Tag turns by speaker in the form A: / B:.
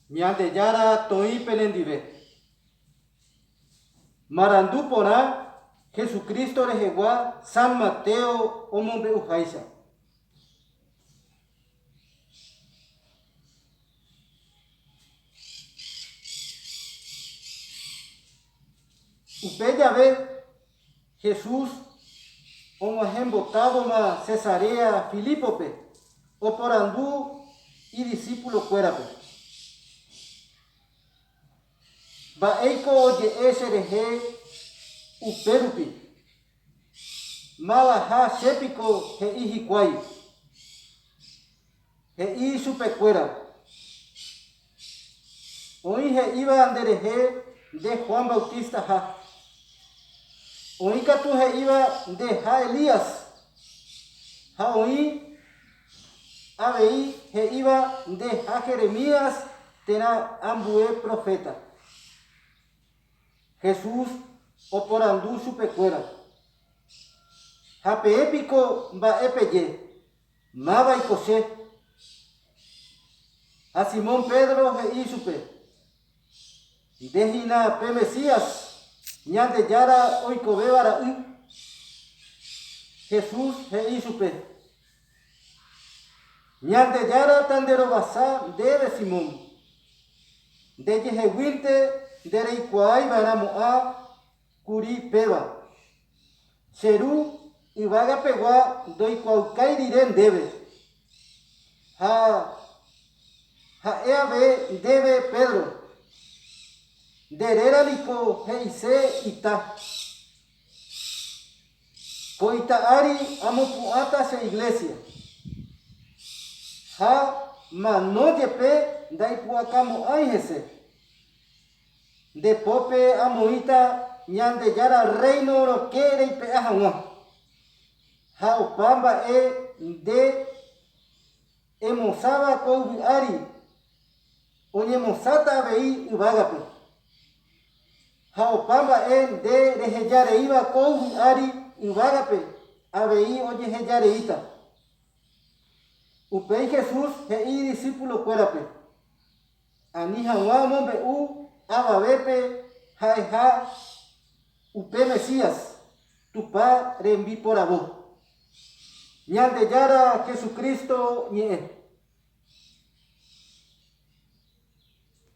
A: Ñandejára toĩ penendive. Marandu porã Jesucristo rehegua San Mateo omombe'uháicha. Upe jave Jesús og̃uahẽ mbotávoma Cesarea Filípope, oporandu idisipulokuérape, Mba'éiko oje'e cherehe upérupi? Mavaha che piko he'i hikuái. He'i ichupekuéra, Oĩ he'íva nderehe nde Juan Bautistaha. Oĩ katu he'íva ndeha Elías, ha oĩ avei he'íva ndeha Jeremías térã ambue proféta. Jesús oporandu chupekuéra, Ha peẽ piko mba'e peje? Mávaiko che? Ha Simón Pedro he'i ichupe, Nde hína pe Mesías, Ñandejára oikovéva ra'y. Jesús he'i ichupe, Ñandejára tanderovasa ndéve, Simón. Ndejeheguínte ndereikuaáiva'erãmo'ã Kuri péva. Che ru yvága pegua ndoikuaaukái rire ndéve. Ha ha'e ave ndéve Pedro, Nde réra niko he'ise ita. Ko ita ári amopu'ãta che iglésia. Ha mano jepe ndaipu'akamo'ãi hese. Nde pópe amoĩta Ñandejára Rréino rokẽ reipe'a hag̃ua, ha opa mba'e nde emosãva ko yvy ári oñemosãta avei yvágape, ha opa mba'e nde reheja reíva ko yvy ári yvágape avei ojeheja reíta. Upéi Jesús he'i idisípulokuérape, Ani hag̃ua omombe'u avavépe ha'eha upe Mesías, Tupã rembiporavo, Ñandejára Jesucristo ñe'ẽ.